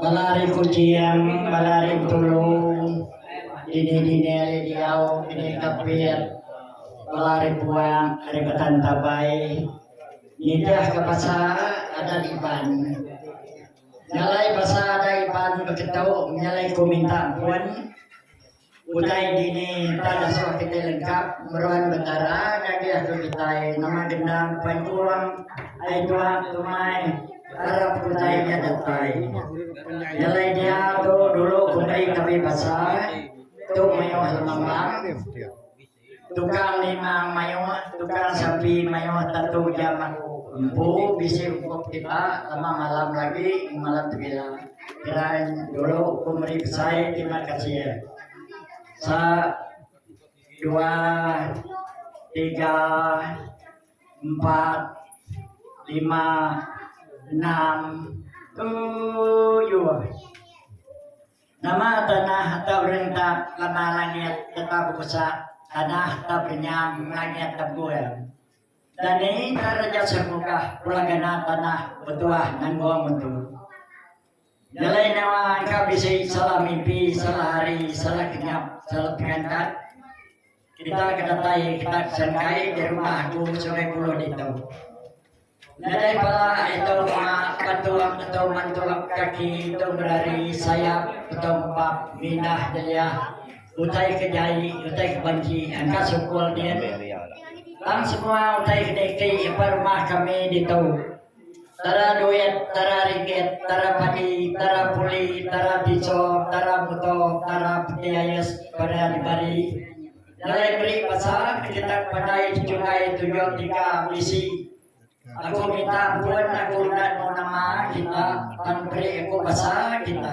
Bala ari Kuching, bala ari Bintulu, dini-dini ari diau kining Kapit, bala ari Puak, ari Batan Tabai nitihka basa adat Iban. Nyalai basa adat Iban beketu menyalai ku minta empun. Utai dini enta ngasuh kitai lengkap meruan bendara nyadi atu kitai nama gendang pancung ai tuak tumai arap utai nya datai. Nyelai dia tu dulu kumbi kabi basa tu mayuh lemambang. Tukang Limang mayuh, Tukang Sapi mayuh tantu jam aku. Empu bisi ukop kiba tama malam agi enggau malam tebila. Geran dulu ku meri besai terima kasih. Sa dua tiga empat lima enam tujuh. Nama tanah atau rentap lama langit getah bebusak tanah atau benyam langit tebul. Dan ini entah raja sermukah pula gana tanah betuah nanggung mentu. Nyelai nama engka bisi salah mimpi, salah hari, salah kenyap, salah pengantat. Kitai ke datai kitai pesen kai di rumah aku suri puluh ditu. Nadai bala itu mak patuk atau mantuk kaki itu berari sayap atau empap mindah deliah utai ke jai utai ke banci angka sukul din. Tang semua utai ke niti empa rumah kami ditu Tara duit, tara ringgit, tara padi, tara puli, tara picho, tara muto, tara peti ayus peda dibari. Nyelai meri basa ketetak pandai dichungai tujuh tiga bisi. Aku minta pun aku udah nemu nama kita tang peri aku basa kita.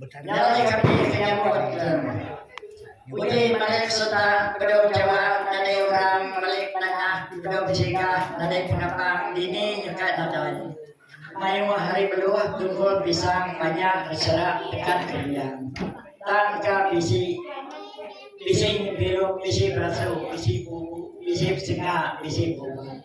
Nyalai kami ke nyambut iklan. Uji malik serta bedau jawab nadai orang malik nengah bedau bejika nadai penapang dini nyeka nadai. Mayuh hari beluh tunggul pisang panjang beserak tekan keriang. Tang ka bisi bisi nyebiruk bisi berasu bisi bubu bisi besenga bisi bubu.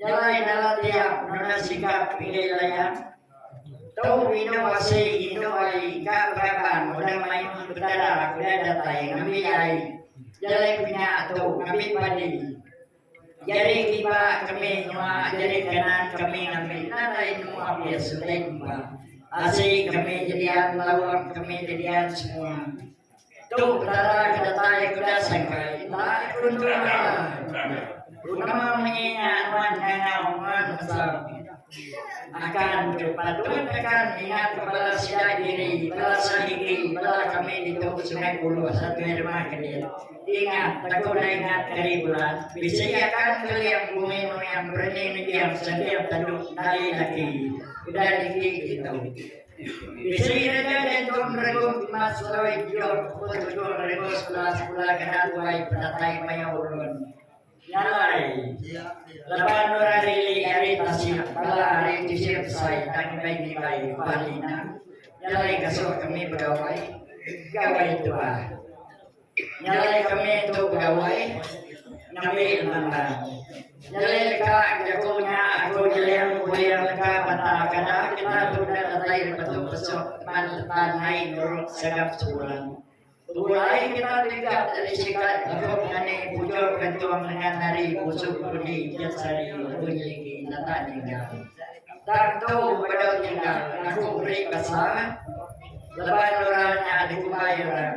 Nyelai dalam tiang nuna sikap pinggir layan. Tu indu asi indu ari ka beraban udah mayuh betadak udah datai ngambi ai jelai kunya tu ngambi padi. Jari kiba kami nyua jari kanan kami ngambi nadai nemu abis utai kiba. Asi kami jedian lauk kami jedian semua. Tu petara ke datai ke udah sangkai enda ke untung ai. Guna munyi nya nuan ngangau nuan mesam. Akan tu patut akan ingatka bala sida diri, bala sehigi, bala kami ditu Sungai Buloh sakai rumah kedit. Ingat, teko udah ingat kari bulan, bisi akan keling bumi nuan bereni nembiang sentiap tanduk ndai lagi. Udah dikik ditu. Isteri Raja nya Tun Regu Imas Seloi Giok pun tuduh regu sekula sekula kena tuai penatai mayuh ulun. Nya alai, laban Nora Lili ari Tasik bala ari Tisir Besai tang indai nilai bah Lina, nya alai ngasuh kami begawai, gawai tu bah. Nyelai kami tu begawai ngambi endang barang. Nyelai deka jaku nya aku nyeling puing leka bata kada kita tu udah datai dipetu besuk pan tetan nai nurut segap sebulan. Tubuh ai kita tingkap jadi sikat jaku ngani bujur kentung lengan ari busuk Rudi Jat Sari bunyi agi data ninggal. Tang tu beda ninggal aku beri basa leban orang nya dikumbai orang.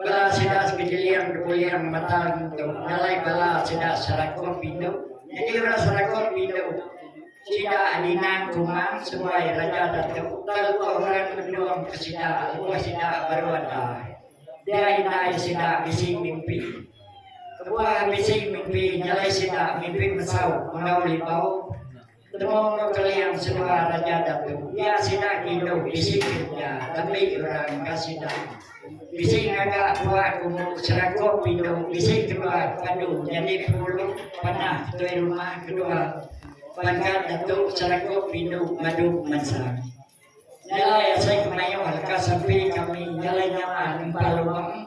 Bala sida sekejeling betuling mata ngintu ngalai bala sida serakup indu. Nyadi orang serakup indu sida Adinang Kumang seruai Raja Datu telua orang mendung ke sida lebuh sida baru ada. Dia indai sida bisi mimpi. Kebuah bisi mimpi nyalai sida mimpi mesau enggau libau. Temu Keling Sua Raja Datu iya sida ngindu bisi duit iya ngambi orang ka sida. Bisi ngaga dua kumu serakup pindu bisi kedua padu nyadi pengulu panah tuai rumah kedua pangkat Datu Serakup Pindu Madu Mansang. Nyelai asai kemayuh leka sampi kami nyelai nyama nempa luang.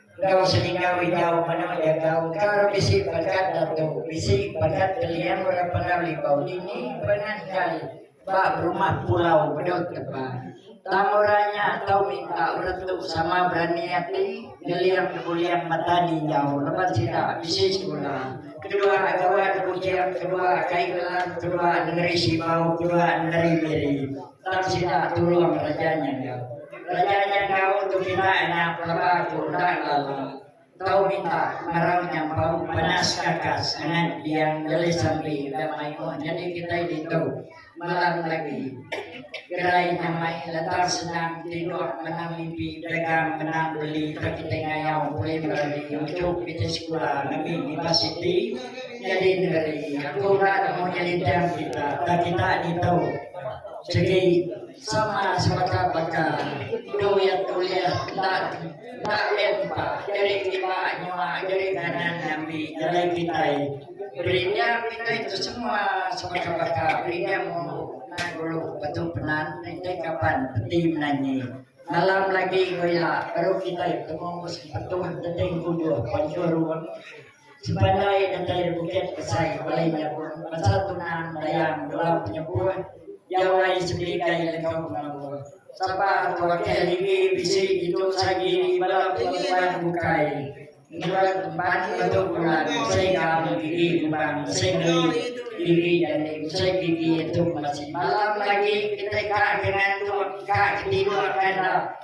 Enggau seninga wijau manah jagau engkar bisi bagat datu bisi bagat geliang orang pengar libau dini pengan kai ba berumah pulau bedau teba tang orang nya tau minta orang tu sama berani ati geliang debuliang mata ninjau leban sida bisi sekula kedua gawa debujing kedua kai gelang kedua nengeri sibau kedua nengeri miri. Tang sida tulung raja nya enggau. Raja nya enggau tu kina anak pelaba tu enda lala tau minta ngarau nyampau panas kakas ngan Diang Lele Sambi enda mai moh nyadi kitai ditu malam lagi. Gerai nyamai letar senang tinduk menang mimpi dagang menang beli tang kitai ngayau ulih berani unjuk kitai sekula ngambi unipasiti nyadi negeri. Aku enda nemu nyelintang kita tang kita ditu. Sigi sama sebaka baka duit ulih enda enda empa nyeri kiba nyua nyeri kanan ngambi jalai kitai. Premium kitai tu semua sebaka baka premium umbu nan dulu betu penan enti kaban peti menanyi. Malam lagi ku ila baru kitai betemu Sempetun Genting Kujuh Panjurung. Sebandai nenteri Bukit Besai Wai nyebut pasal tunang dayang enggau penyepuh Jau Wai disepika iya enggau pengawa sapa ke wakil diri bisi ditu sai diri bala perempuan bukai ngereut empat lebuh bulan mesei gaul diri ngubang mesei ngeri diri jani mesei diri entung bala sida. Malam agi kitai ka ke ngantuk ka ke tidur kandau.